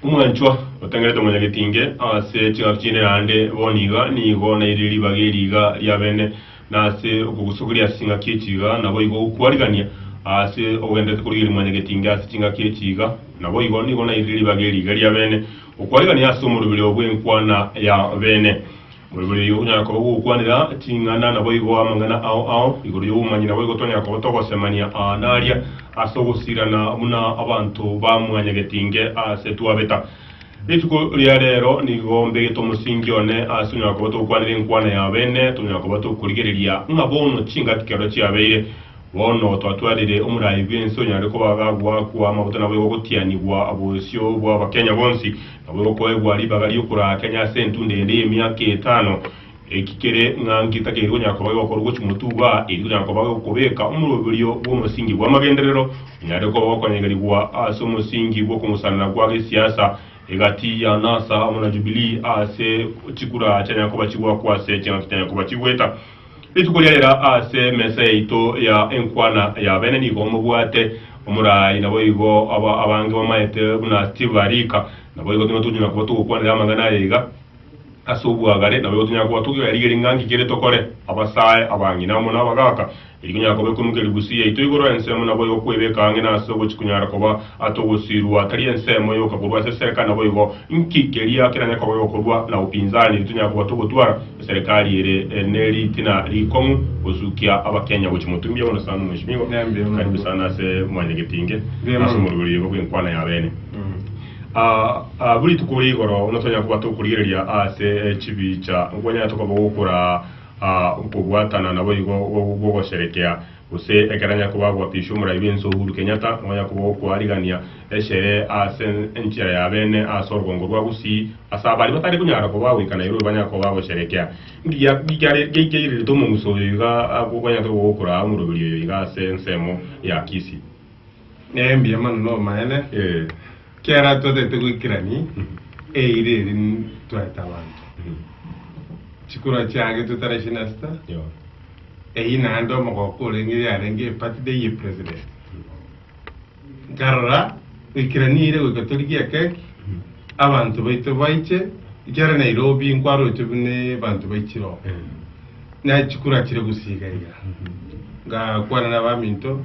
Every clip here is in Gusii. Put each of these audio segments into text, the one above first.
Omwanchwa otengenete omonyagetinge ase ching'aki chinde naende boni iga nigo nairire ribaga eri iga ria bene, na ase okogusokeria ase ching'aki echi iga naboigo gokwarigania ase ogenderete korigeria mwanyagetinge ase ching'aki echi iga, naboigo nigo nairire ribaga eri iga ria bene, okwarigania ase omorobiri obw'enkwana ya bene. Moigure eyio onyare koba gokwanera ching'ana, naboigo amang'ana ao ao igoro y'obomanyi naboigo tonyare koba togosemania aa na aria ase ogosirana buna abanto ba mwanyagetinge ase twabeta. Rituko ria rero nigo mbegete omosingi one ase onyare koba togokwanera enkwana ya abene, tonyare koba tokorigereria ng'a bono chingaki kero chiabeire. Bono twatwarire omorai bw'ense onyare kobagagwa kwa amaguta nabo egogotianigwa obosio bw'Abakenya bonsi, nabo egokoegwa ribaga ri'okoraa Kenya ase entunda ende y'emiaka etano. Eki kere ng'a nki takeiri konyara koba gegokorwa gochia motuba, eri tokonyara koba gekobeka omoroberio bw'omosingi bw'amagenderero onyare koba gokonyegerigwa ase omosingi bw'okong'usanana kwa gesiasa egati ya NASA amo na Jubilee ase chikura chianyare koba chigwakwa ase ching'aki chianyare koba chigweta Rituko ria ira ase emesa yaito ya enkwana y'abene nigo mobwate omorai, naboigo aba abange bamaete buna Steve arika. Naboigo tiga tonyora koba togokwanera amang'ana aya iga ase obwagare, naboigo tonyara koba togerigeria ng'a nki kere tokore, abasae, abang'ina amo nabagaaka. Eri konyara koba ekonukeria busia yaito igoro ense amo naboigo kwebeka ang'e nase ogochi konyara koba. Ase ogosirwa tari ensemo yoka korwa ase esereka naboigo nki keria kenene kobeyo korwa na upinzani ritonyara koba togotwara eserekari ere ne ritina rikong'u gosukia abakenya gochi motumbi bono sana mweshimiwa karibu sana ase mwanyagetinge na ase omorweri oyogo bwenkwana yabene aah buri rituko ore igoro buna tonyara koba tokorigereria ase chibicha nkwanyare tokoba gokora aah nkobwatana naboigo bwogosherekea Gose ekero anyakoba agoapiswa Omoraibi ense Uhuru Kenyatta, onyakoba okoarigania eshere ase enchera ya beene ase orogongo rwa Gusii, ase abari batari konyara koba goika Nairobi banyakoba bagosherekea ngiakeirerete omonguso oyo iga agoganyete gokoraa omoroberio oyo iga ase ensemo ya Kisii. Nembiya mono nomoene, kiagera twatagete goikerania eira eri twaete abanto. Chikura chiagetwe tarehe ishirini na sita, eyio naende omogoko orenge yarenge ebirthday ye president. Nkarora goikerania eira goika torigie ekeki, abanto baito baiche, ekiagera Nairobi nkwarochwe buna abanto baichire oo. Nachikura chire gosiiga iga, ngakwana nabaminto.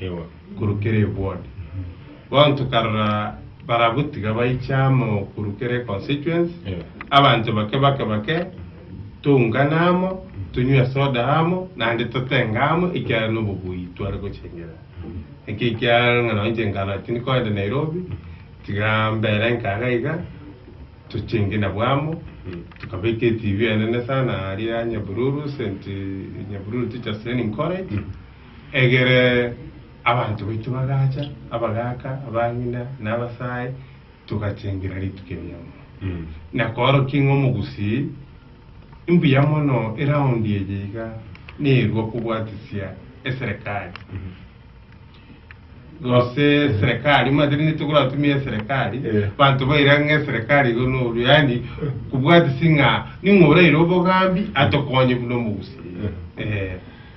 Ewa, korokera ebuoni. Bono tokarora barabwo tiga baiche amo korokera econstituency, abanto bake bake bake toungane amo, tonywe esoda amo, naende totenge amo ekiagera nobobui tware gochengera. Naki ekiagera ng'a nonye inche nkana tindi koenda Nairobi, tiga mbere nka iga iga, tochenge nabwo amo, tokabeka etv enene sana aria Nyabiruru, St. Nyabiruru Teachers Training College, Egere abanto baito bagacha, abagaaka, abang'ina, na abasae, togachengera rituko eria mono. Na koorokia ng'a omogusii, imbuya mono eround eye iga nerua kobwatisia eserekari, gose serekari, omanyete rinde tokoratumia eserekari, abanto baira ng'a eserekari igo noru, yaani kobwatisia ng'a ning'o oraire obogambi atokonye buna omogusii. Eeh.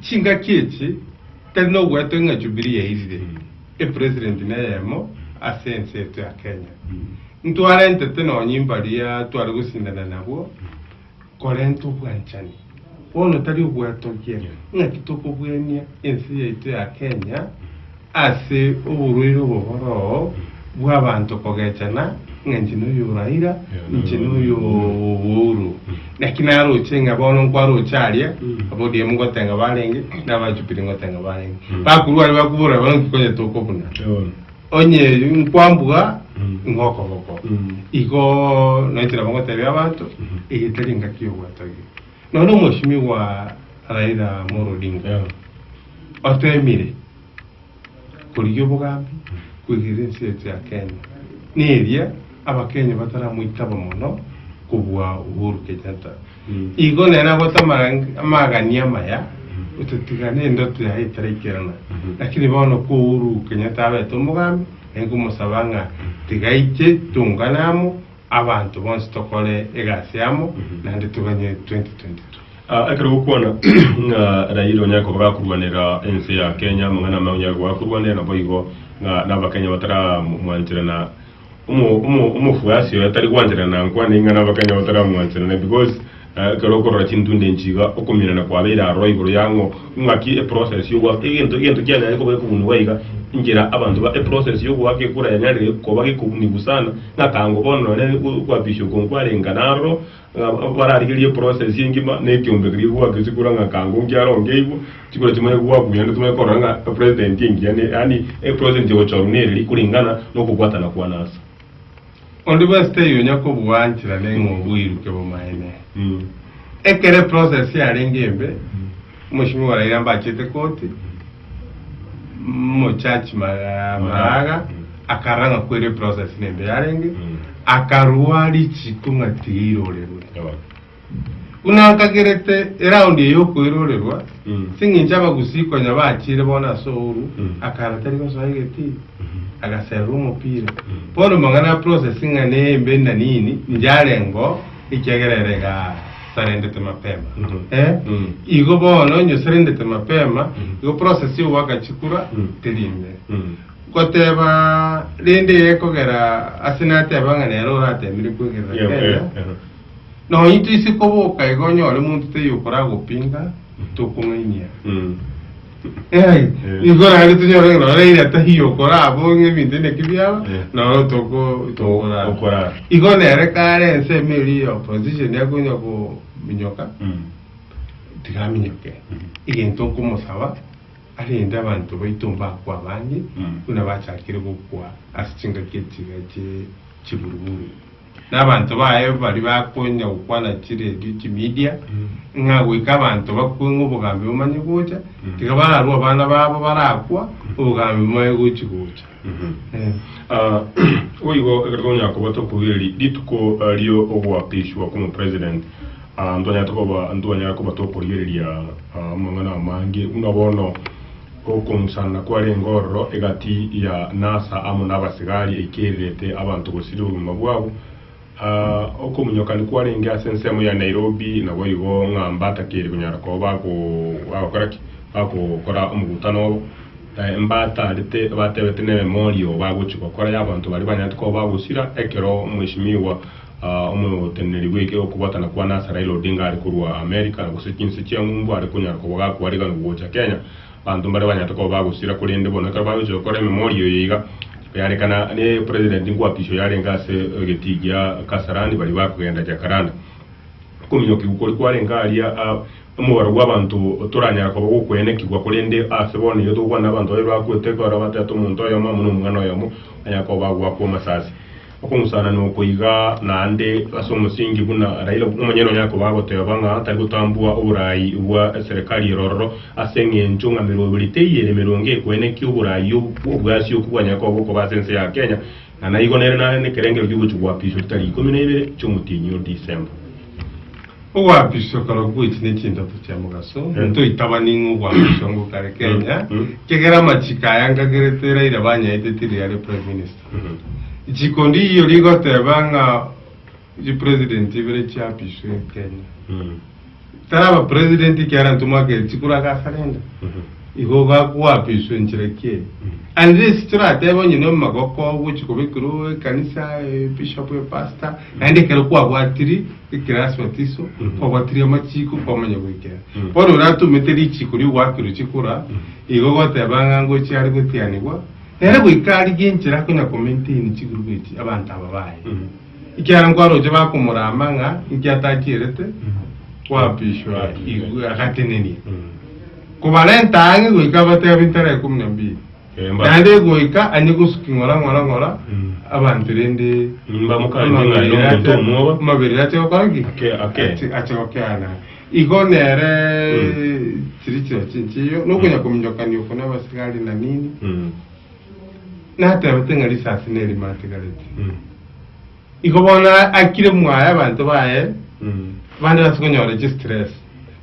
Chingaki echi tari nogoetwa ng'a Jubilee yairire, epresident neyemo ase ense yaito ya Kenya. Ntwarentete nonya imbaria tware gosindana nabwo korenta obwanchani. Bono tari ogoetogia ng'aki tokobuania ense yaito ya Kenya Ase oborwaire oboboroo bw'abanto kogechana ng'a inche noyo oraira, inche noyo obouru. Naki naroche ng'a bono nkwaroche aria, ab'ODM ngote ng'a barenge, na aba Jubilee ngote ng'a barenge. Bakorwa aria bakobora bono nki konya tokobuna. Onye nkwambua ing'o okogoko. Igo nainche nabo ngotebia abanto, eye tari engaki y'ogwetogia. Nonya omosimigwa Raila Amolo Odinga otemire korigia obogambi koigera ense ase ya Kenya neria abakenya bataramoitaba mono kobua Uhuru Kenyatta. Igo nere agote amagania amaya otatiga nendoto yaye etaraikerana. Lakini bono ko Uhuru Kenyatta abete omogambi, aye komosaba ng'a tiga aiche tongane amo, Abanto bonsi tokore egasi amo, naende toganye 2022. Ekero gokwana ng'a Raila onyare koba gakorwanera ense ya Kenya, amang'ana amaye onyare koba gakorwanera naboigo ng'a nabakenya bataramwanchera na omofuasi oye tari gwanchera nankwane ing'ana abakenya bataramwanchera naye because Na ekero okorora chintunde inchi iga, okominana kwabeire aroro igoro ya ng'o, ng'aki eprocess y'ogoaka egento egento kianyare koba gekobunigwa iga enchera abanto ba eprocess y'ogoaka ekura yanyarire koba gekobunigwa sana, ng'atango bono nonye okoapisha okwo nkwarenga naroro, ng'a bararigerie eprocess engima na ekiombe keria gegoaka chikura ng'akango nkiaro nkeigwa chikura chimare goakwa buya naende timanye korora ng'a epresident engiya ne yaani epresident egochorwa nere ri koringana nokobwatana kwane ase. Onde bwensi taiyo onya kobwanchera neng'o oboiruke bomaene. Ekero eprocess yarenge embe, omochimi oraire ambachete koti, omochurch ma- Maraga akarora ng'a kweri eprocess nembe yarenge, akarua richiko ng'a tiga irorerwe. Buna nkagerete eraundi eye y'okoirorerwa, ching'incho abagusii konya bachiire bono ase ouru, akara tari gosoa egeti, agaserera omopira. Bono mang'ana a processing ng'a nembe na nini, inche arengo ekiagera ere egasarendete mapema. Eh, igo bono inye oserendete mapema, igo process yo goaka chikura teri imbe. Goteba rende eye ekogera ase nateba ng'a nere oratemire kwegerera Kenya, Nonya intwe ise koboka iga onyore monto taiyo okoraa gopinga, tokong'ainia. Eeh, nigo naende tonyore ng'a nonye ira taiyo okoraa bo ng'a ebinto inaki biaba, Eh. noro toko- tokoraa. Okoraa. Igo nere kare ensemo eria ya opposition yakonya kominyoka, Mm. tigaminyoke. Egento nkomosaba, arende abanto baito mbakwe abande, Mm. buna bachakire gokwa ase chingaki echi iga chie chiburuburu. Na abanto baye baria bakoenya gokwana chiredio chimedia, ng'a goika abanto bakwe ng'a obogambi bomanye gocha, tiga bararue abana babo barakwa, obogambi bomaye gochi gocha. Ah, boigo ekero twamanya koba tokogera eri- rituko ah, rio ogoakishwa kw'omo president, ah, ntwanyarete koba ntwanyare koba tokorigereria ah, amang'ana amange buna bono, Okomusana kwarenge ororo egati ya Nasa amo nabasigari eikererete abanto gosiria obogima bwabo. Okomunyokani kwarenge ase ensemo ya Nairobi naboigo ng'a mbata keri konyara koba bagokora ki? Bagokora omogutano obo. Mbata arete batebete ne memorial bagochi gokora y'abanto baria banyarete koba bagosira ekero Mweshimiwa Omoteneneri bw'ekegwa okobwatana kwane ase Raila Odinga are korwa Amerika gose chinse chia ng'umbu are konyara koba gakwarigana ogocha Kenya. Abanto mbare banyarete koba bagosira korende bono ekero bagochia gokora ememori eye iga, yarekana ne President nkwapisho yarenge ase egetii gia Kasarani baria bakogenda Jacaranda. Okominyokigwa koria kwarenge aria omobaro bw'abanto toranyara koba gokwenekigwa korende ase bono iga togokwana abanto babe bakwete ekero batete omonto oyomo amo nomwana oyomo banyare koba bagoakwa amasasi. Okong'usana noko iga naende ase omosingi buna Raila omonyene onye akoba agoteeba ng'a tari gotambua oboraai bwa eserekari ero ororo ase eng'encho ng'a merongo ere teiere merongo ekwene ki oboraai obwo obwasiokwe bwanyare koba bokoba ase ense ya Kenya ng'a naigo nere nare nekerengerio gi'ogochia goapiswa tari ikomi na ibere chi'omotienyi o December. Ogoapiswa korokwo goichi nechintato chia mogaso, ntoitabani ng'a ogoapiswa ngokare Kenya, ekiagera amachiko aya ngakerete Raila banyaeteti riria are Prime Minister. Chikundi iyio rigoteba ng'a chipresident ibere chiapiswe Kenya. Tari abapresident ekiagera ntomwakeri chikura ase asa rende. Igo gakoapiswa enchera ki eye. And this toratebe onye na omogoko ogochi kobekirwe ekanisa, ebishop, epastor, naende ekero kwabwatiri ekirasi batiso, kwabwatiri amachiko, kwamanya goikera. Bono oratomete richiko ri'ogoakirwa chikura, igo ogoteba ng'a ngochi are gotianigwa, Nere goika arigie enchera konya komaintaini chigroup echi abanto aba baye. Ekiagera nkwaroche bakomorama ng'a inki atachierete koapishwa igwe agatenenia. Kobarenta ang'e goika abatebe abinto are ikomi na mbiri. Eh, mba- Naende goika anye gosuki ng'ora ng'ora ng'ora abanto rende Mbamokanire ng'a nomonto omoba. amaberero ache gokora ki? Ake- ake. Ache- ache gokeana. Igo nere chiri chira chinchiyo, na okonyakominyokania oko nabasigari na nini, natebete ng'a risasi nerimo atigarete. Igo bono akire mwaye abanto baye bande base konyora chistress.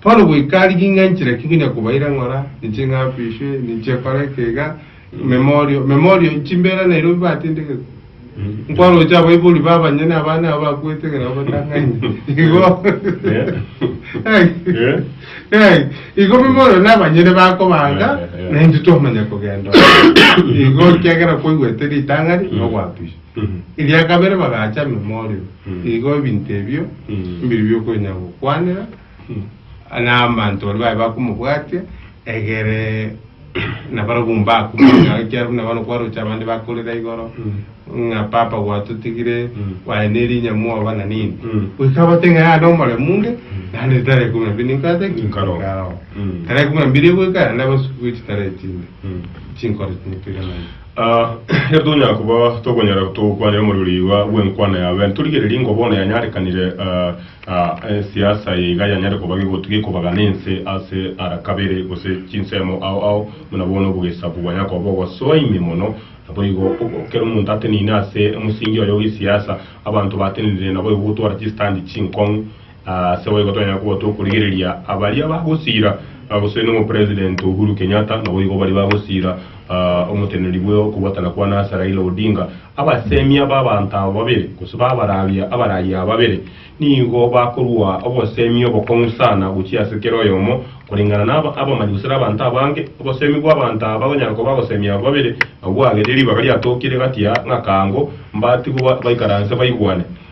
Bono goika rigiing'a nchiraki ngonya kobaira ng'ora ninche ng'apiswe, ninche kore ekeiga. Memorio, memorio, chimbeera nairobio bibatendegetwe. Nkwaroche abaibori ba abanyene abane abo bakwete ekero bagotang'anya. Igo. Ai. Eh. Ai. Igo memorio na abanyene bakobanga, Eh, eh, eh. na intwe twamanya kogenda. Igo kiagera kwaigwete ritang'ani, na ogwapiswa. Mhm. Eria kabere bagacha memorio. Mm. Igo ebinto ebio, Mm. mbiri biokonya gokwanera, na abanto baria baye bakomobwatia, egere nabarabwo mbakumanye naye, ekiagera buna bono kwaroche abande bakorera igoro, ng'a papa gwatotigire, bwaye ne erinya mwoba na nini, goika abate ng'a yare omoremu onde, naende ritara ikomi na mbiri ninkore ate ki? Nkaroo. Nkaroo. Tara ikomi na mbiri egoika, naende abasukurie chitara echinde, chinkoro chinde toiranane. Ah, ekero tonyara koba tokonyara togokwanera omorero ribaga bw'enkwana yaye, torigererie ng'a bono yanyarekanire ah, Aa, ensiasa yaiga yanyare koba gegotu gekobagana ense ase ara kabere, gose chinsemo ao ao, buna bono obogesabu bwanya koba ogosoa ime mono. Naboigo, ekero omonto ateneine ase omosingi oye o gesiasa, abanto batenenire naboigo gotwara chisitandi chinkong'u. Aa, ase boigo tonyare koba tokorigereria baria bagosira, gose nonya Omopresident Uhuru Kenyatta, naboigo baria bagosira, aa, omoteneneri bwe okobwatana kwane ase Raila Odinga, Abasemia b'abanto aba babere, gose b'abarabia abarayia aba babere, nigo bakorua obosemi obokong'u sana gochia ase kera oyomo, koreng'ana na abamanyi gose na abanto abange. Obosemi bw'abanto aba bagonyara koba abasemi aba babere nabwo bwagete ribaga riatookire gati ya ng'akaango, mbatigwe baikaranse baigwane.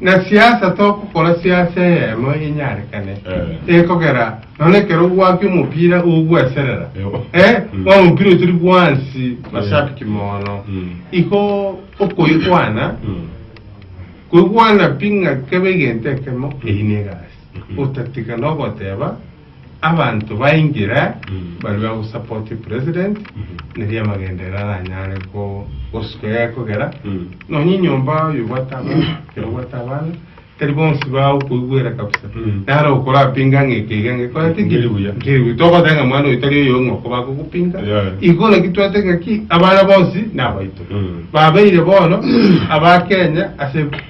Na siasa togokora siasa eyemo enyarekane ekogera nonya ekero gwaki omopira ogweserera eh bono omopira oyo tori bwansi mashabiki mono igo okoigwana koigwana pi ng'a kebe egento ekemo eyio ne egasi otatiga nogoteba Abanto baingira baria ba go support president neri amagendo ere aranyare gosuka egekogera nonya enyomba oyo obwate abana ere obwate abana tari bonsi bagokoigwera kabisa naro okorapinga ng'a eke iga ngekoreti ki Nkeri buya. nkeri buya togoteba ng'a mwana oyo tari oyo ng'oko bagogopinga Yeah. igo naki twate ng'aki abana bonsi nabaito babeire bono abakenya ase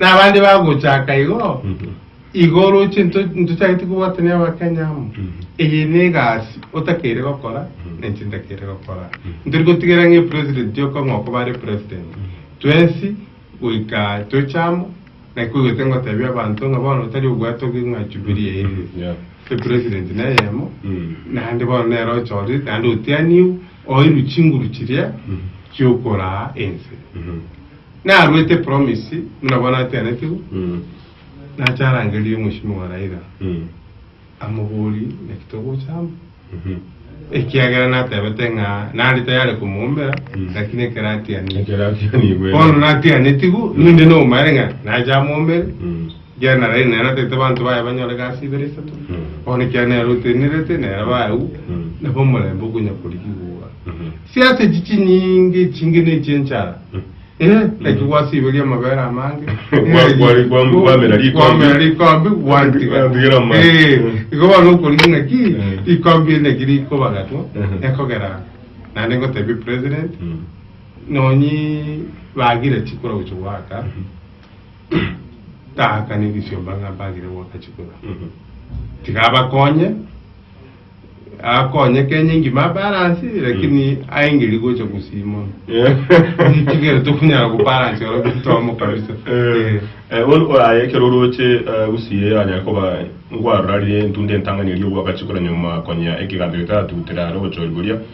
Na abande bagochaka igo igo oroche into- intochagete kobwatania abakenya amo. Eye ne egasi otakeire gokora na inche ntakeire gokora. Ntori gotigera ng'a epresident yoka ng'a okoba are president. Twensi goika toche amo naki kwegoete ngotebia abanto ng'a bono tari obwate oke ng'a Jubilee erire. Yeah. Epresident neyemo naende bono nere ochorire naende otianiwu oirwe chinguru chiria chiokoraa ense. Naruete promise buna bono ateanetigwe, nache arangerie omosimi wa Raila amoborie naki togocha amo, ekiagera natebete ng'a nare tayari komoombera lakini ekero atianigwe. Ekero atianigwe. Bono natianetigwe, ninde nobomaene ng'a nache amoombere. Ekiagera nere naeratete abanto baye banyore egasi ibere isato, bono ekiagera nere otenerete, nere abaaeu, nabo omorembe okonyakorigia igwa. Siasa echi chinyinge echinge nechie enchara, eh, naki gwasiberia amabere amange, Kwa- kwa- kwa- kwamera rikombe. kwamera rikombe gwantiga. Gwantigera amabere. Eh, Mm. igo bono okorigia ng'aki Mm. rikombe eri naki rikobagatwa Mhm. ekogera naende ngotebia president Mm. nonyi bagire chikura gocha goaka Tata negesiomba ng'a mbagere goaka chikura. Tiga abakonye, akonye Kenya engima abaransi, lakini aengeri gocha gusii mono. Nitigere tokonyara gobaransi oro getomo kabisa. Eh. Eh, bono oraye ekero oroche eh, gusii eye anyare koba nkwarorarire entunda entang'ani eria ogoaka chikura nyuma konya ekeganto getaratutera are obochori boria.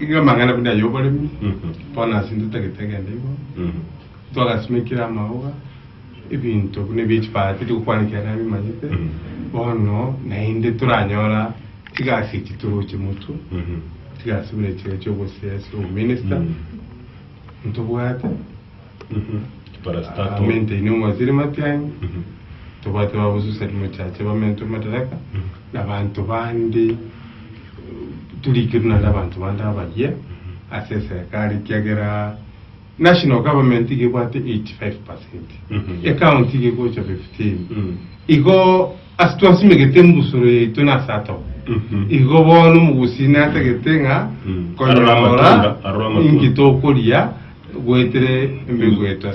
Iga amang'ana buna ay'oboremi, bono ase intwe totagete egento igo, twagasimekire amaoga, ebinto buna ebia chipara titigokwana ekiagera nabimanyete, bono naende toranyora chigasi echi toroche motwe, chigasi buna echi chi'obosiasi, obominista, ntobwate, Bamenteine Parastato. omwaziri matianyi, tobwate babosusani mochache bamentwe madaraka, na abanto bande eh, turikirwe naende abanto bande abaria ase eserekari ekiagera national government iga ebwate 85%, Mhm. ecounty iga egocha 15. Mm. Igo ase twasimegete embusuro yaito na ase atogo. Mhm. Igo bono omogusii natagete ng'a Mm. Arora amatunda, arora amatunda. inki tokoria Goetire embegweta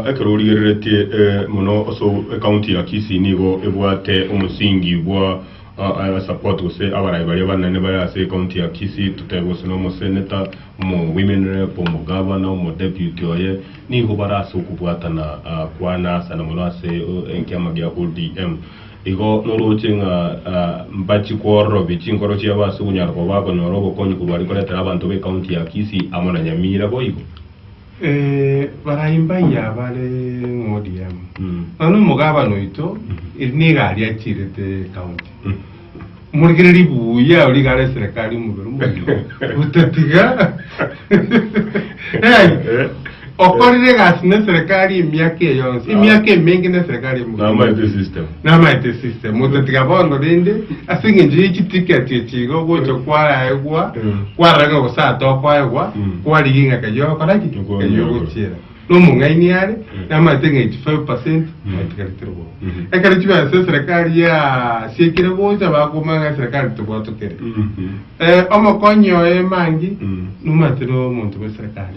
Ekero origereretie mono ase ecounty ya Kisii nigo ebwate omosingi bwa support gose abarai baria abanene bare ase ecounty ya Kisii totebe gose na omosenator, omo women rep, omo governor, omo deputy oye nigo bare ase okobwatana kwane sana mono ase ekiama gia ODM. Igo norooche ng'a mbache kwororobia chinkoro chiabo ase okonyara koba bakonyora obokonyi korwa are koretera abanto b'ecounty ya Kisii amo na Nyamira boigo. Barai mbaye abare ng'ODM, nonya omogabana oito, eri nigo aria achirete ecounty. Morikere ribuya ori igare eserekari omobere omoyio otatiga Hey! okorire egasi na eserekari emiaka eye yonsi emiaka emenge na eserekari eye mobere Namaete omoyio. system. namaete system otatiga bono rende ase eng'encho ye chiticket echi igo gocha kwaegwa Mm. kwarora ng'a gose atokoegwa Mm. kwarigia ng'a kayio ogokora ki Okonyora. kayio ogochiera nomong'aini are namanyete ng'a 85 percent mwaitigaretire bobe Mhm. ekero chibesa eserekari yasiekire gocha bakoboma ng'a eserekari tebwatokire Mhm. Eh, omokonyi oye mangi Mm. nomanyete na omonto bwa eserekari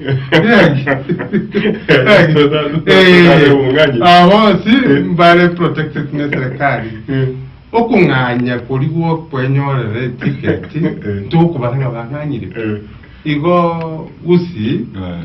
Totare omong'anyi. abosi mbare protected na eserekari okong'anya kori gwokwenyorera etiketi Eh. ntokobara ng'a bang'anyire Eh. igo gusii Eh.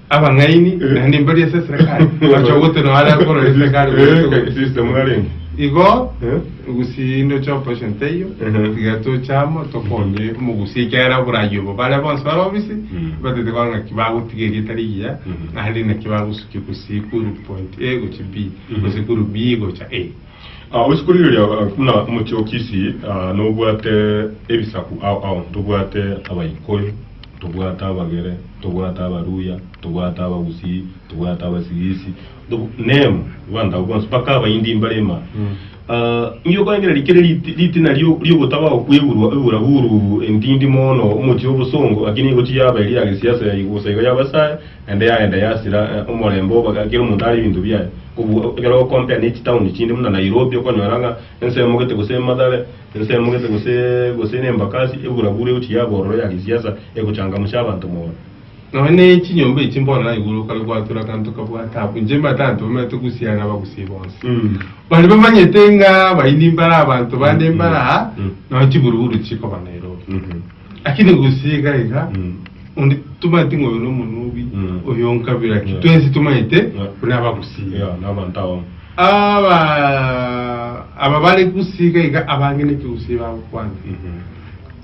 Abang'aini, naende mbari ase eserekari, bache ogotera nao are akorora eserekari Eh, goeta kaki ogochi. system narenge? Igo Eh? ogusie indoche operation teiyo Ehe. tiga toche amo tokonye omogusi ekiagera oborayi obo bare bonsi bare obisi Mm. batete kora ng'aki bagotiga erieta rigiya Mhm. naende naki bagosukia gusii kuru point a gochia b Mhm. gose kuru b gocha a Ase kworigereria buna omochie o Kisii, nobwate ebisaku ao ao, tobwate Abaikoi, tobwate Abagere, tobwate Abaluhya, tobwate Abagusii, tobwate Abasigisi, nemo abanto abwo bonsi, mpaka Abahindi mbarema. Inki okorengereria kere ritina ri'ogotaba okwegurwa eburaburu entindi mono, omochie obosongo, lakini igo tiyaba eria ya gesiasa gosa iga y'Abasae. Naende yageenda yasira omorembe obo, kera omonto are ebinto biaye. Kobua ekero ogokompea ne chitown chinde buna Nairobi, okonyora ng'a ense emogete gose Mathare, ense emogete gosee gose ne Embakasi, eburabura egochia yabororo ya gesiasa egochangamsha abanto mono. Nonya ne chinyomba echi bono naye igoro kare gwatura akanto kabwate abwo. Inche mbate abanto bamanyete gusia na abagusii bonsi. Mm. Baria bamanyete ng'a abaini mbare abanto bande mbare aa, Mm. nonya chiburuburu chikoba Nairobi. Mhm. Lakini gose iga iga Mm. onde tomanyeti ng'a oyo nomonubi, Mm. oyo nkabira ki, Yeah. twensi tomanyete Yeah. buna abagusii. Yeah, n'abanto abamo. Aba aba bare gusii iga iga abange nekegusii bagokwana. Mhm.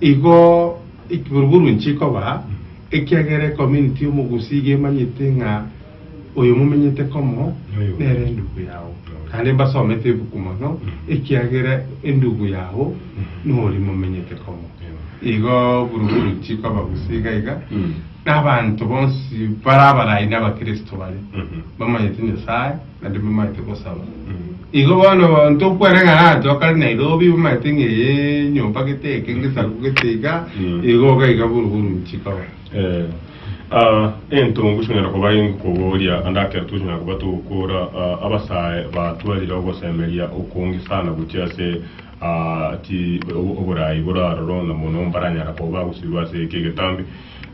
Igo ekiboroboro nchikoba ekiagera ecommunity y'omogusii iga emanyete ng'a Oyo momenyete komo nere endugu yao, naende mbasomete ebuku mono, ekiagera endugu yao nori momenyete komo. Igo buru-buru tikoba gose iga iga, nabanto bonsi bare abarai na abakristo bare bamanyete Nyasaye naende bamanyete gosaba. Igo bono tokwereng'ana abanto bakare Nairobi bamanyete ng'a eye enyomba gete eke, gesaku gete iga, igo iga iga buru-buru tikoba. Ee, a entungu chinyara koba engu koboria, ande akero tochinyara koba togokora a abasae batwarire ogosemeria okonge sana gochia ase a chi obo- oboraai bore aroro, na mono mbaranyara koba bagosibwa ase eke egetambe.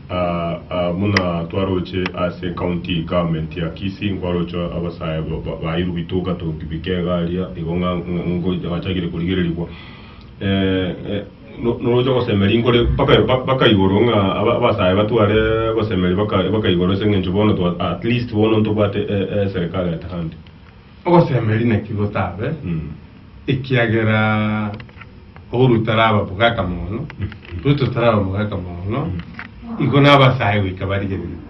A a buna twaroche ase county government ya Kisii, nkwaroche abasae ba- ba- bairwe bitoka toki bikega aria, igo ng'a- ng'a- ngocha- ngachakire korigererigwa. Eh, eh. Noroche gosemeria inkore mpaka igoro, ng'a abasae batware gosemeria mpaka igoro, ase engencho bono at least bono ntobwate eserikari at hand. Ogosemeria naki gotabe, ekiagera oborwa taraba mogaka mono, Ruto taraba mogaka mono, igo nabasae goika barigereria.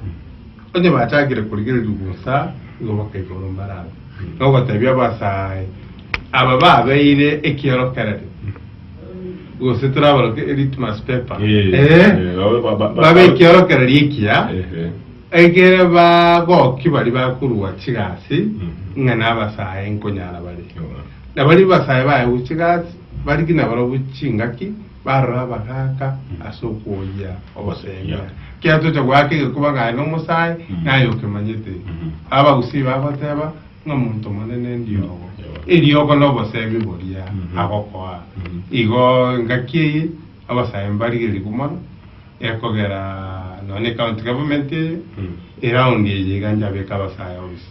Onye bachakire korigereria bosa, nigo bakaigoro mbarango na ogotebia abasae aba babeire ekiorokererio, gose tore abaroke e litmus paper, Eh, eh, eh, babe- ba- ba- ba- babe ekiorokererio ekiya, Ehe. ekere bagoki baria bakorua chigasi, Mhm. ng'a nabasae nkonyara bare. Yo. Na baria basae baye gochia gasi, barigie nabarabwo chingaki, Barora abagaaka ase okwoyia ogoseemea. Ekiagera tocha goaka egekuba ng'a are nomosae, naye okemanyete. Abagusii bagoteeba ng'a monto monene endiogo. Eriogo noboseemi boria agokoa. Igo engaki eye abasae mbarigerigwe mono ekogera nonye ecounty government eye, eround eye iga njabeke abasae onsi.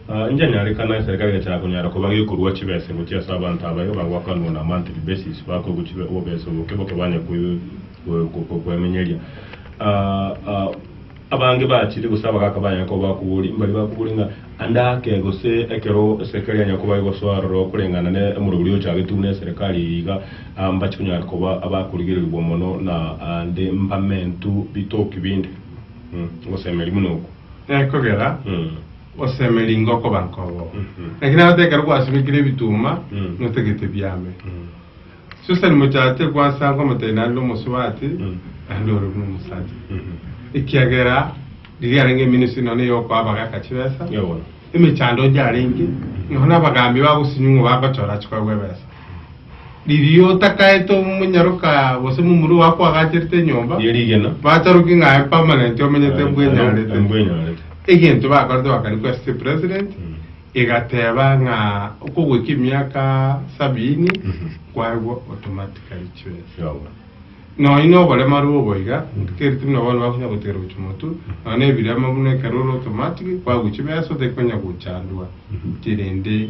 Aa inche nyare kana eserikari egachaka konyara koba gekorua chibesa egochia ase abanto abayo bagwakanwa on a monthly basis bakorwa chibe obobesa oboke boke banya koemenyeria aa abange bachire gose abagaka banya koba bakobori mbari bakobori nga ande ake gose ekero eserikari yanya koba egosoa aroro koreng'ana ne omorero oria ochagetwe buna eserikari eye iga aa mbachi konyara koba abakorigererigwa mono na ande mbamentu bitoki binde. Ogosemeria buna oko. Ekogera. Osemeri ngokoba nkobo. Naki nagotekerwa gwasibekire ebituma, notagete biame. Susani mochache gwansanga omotayi naende omosubati, naende ore buna omosacha. Ekiagera riria yarenge emenisi nonya eyokoa abagaka chibesa, emechando yarenge, nonya abagambi bagosinyiwa ng'a bagochora chikogwa ebesa. Riria otakaete omonyaroka gose momura ogo akoagacherete enyomba, Ye rigena. bacharoki ng'a aye permanent omenyete mbwenyarete. Mbwenyarete. Egento bakorete bakani kwa City President egateba ng'a okogweka emiaka sabini kwaigwa automatically chibesa. Yabo. Nonya na oboremaru obo iga keri tari na bono bakonya gotigera gochia motu nonya na ebirema buna ekero ore automatic kwaigwa chibesa otari konya gochandwa tirende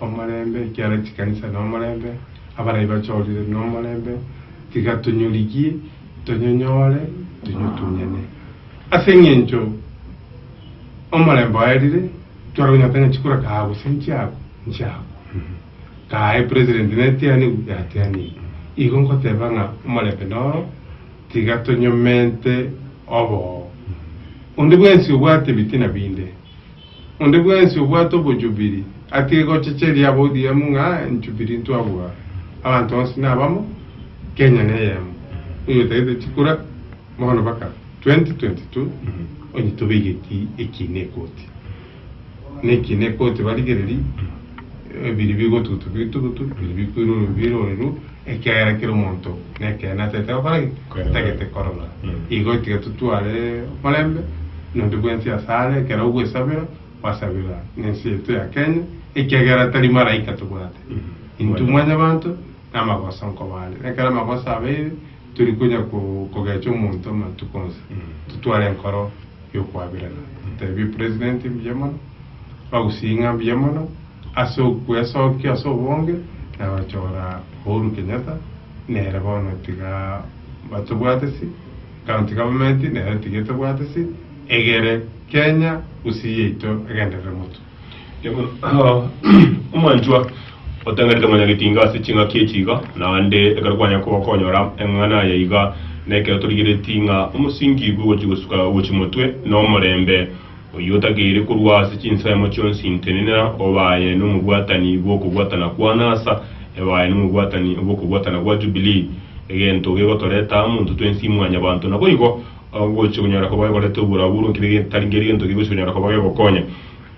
Omorembe, ekiara chikanisa nomorembe, abarai bachorire nomorembe, tiga tonyorigie, tonyonyore, tonyotunyane. Ase engencho omorembe oerire, tware konyora tang'ani chikura kaha gose nchiago, nchiago, kaha epresident netianigu, yatianigwe. Igo nkoteba ng'a omorembe noro, tiga tonyomente oboo. Onde bwensi obwate ebitina binde. Onde bwensi obwate obojubiri akegochecheria aba ODM ng'a enchubiri ntwabua abanto onsi nabamo, Kenya neyemo, oyo otagete chikura bono baka 2022 onye tobaigetie ekiina ekoti na ekiina ekoti barigereri biri bigotugutu bitugutu biri bikwirwa orobibiro ore rwo. Ekiagera kera omonto nekeene atagete gokora ki? Atagete korora. Igo tiga totware oborembe nondi bwensi ase are, ekero ogwesabera, gwasabera nensi yaito ya Kenya, ekiagera tari maraika tobwate, intwe mwanyabanto, namagoso nkoba are. Nekero amagoso abeire, tori konya kogecha omonto amatuko onsi, totware enkoro yokoaberana, totebi president mbuya mono, bagusii ng'a mbuya mono, Ase okwesokia ase obonge na gochora Uhuru Kenyatta nere bono tiga batobwatisi, county government nero tiga etobwatisi, egere Kenya gusii yaito egenderere motwe. Omwanchwa otang'erete Mwanyagetinga ase ching'aki echi iga, naende ekero kwanya koba konyora eng'ang'ana aya iga, nekero torigereti ng'a omosingi bw'ogochi gosuka gochi motwe nomorembe. Oyio otakeire korwa ase chinsemo chionsi ntenena, obe aye nomobwatani bw'okobwatana kwa anasa, ebe aye nomobwatani bw'okobwatana gwa Jubilii, egento gegotoreta amo intwe twensi mwanyabanto. Naboigo, gochia konyara koba gekoreta oborabu-oro nkebe getari nker'gento kegochia konyara koba gegokonya.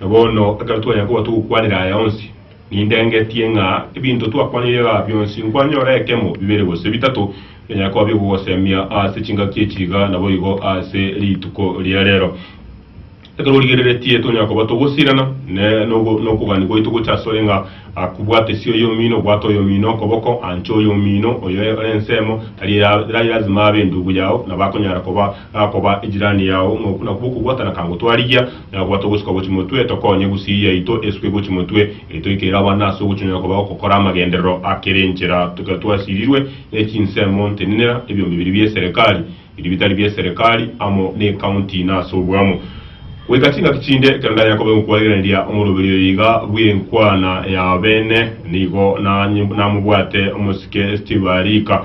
Na bono, ekero twanyara koba togokwanera aya onsi, Nindengetie ng'a ebinto twakwanire igaa bionsi nkwanyora ekemo, bibere gose bitato, bianyare koba bigogosemia ase chingaki echi iga naboigo ase rituko ria rero. Ekero origereretie tonyara koba togosirana, ne nokogania gwaito gocha asore ng'a akobwate sia oyomino, obwate oyomino okoboko, ancha oyomino oyo ore ensemo, tari lazima abe endugu yao, nabo akonyara koba gakoba ejirani yao, ng'a okwo nakwo okobwatana kangotwarigia. Na bwata ogosuka gochia motwe, tokonye gusii yaito esuke gochia motwe, erio toikeire abana ase ogochonyora koba ogokora amagenderero a kera enchera, tiga twasirirwe ne chinsemo ntenenera, ebiombe biria bi'eserekari, biria bitari bi'eserekari, amo ne'ekaunti, na ase obwamo. Goika chingaki chinde, ekero ndanyare koba egokwarigereria omoroberi oyo iga bw'enkwana y'abeene, nigo namobwate omosike Steve Arika,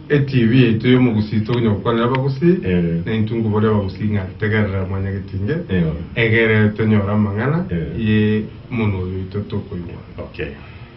ETV yaito y'omogusii toginya gokwanera abagusii Eeh. naintwe nkobori abagusii ng'a tegerera Mwanya Getinge Eeh. egere tonyore amang'ana Eeh. ye monwa oyo oito tokoigwa. Okay.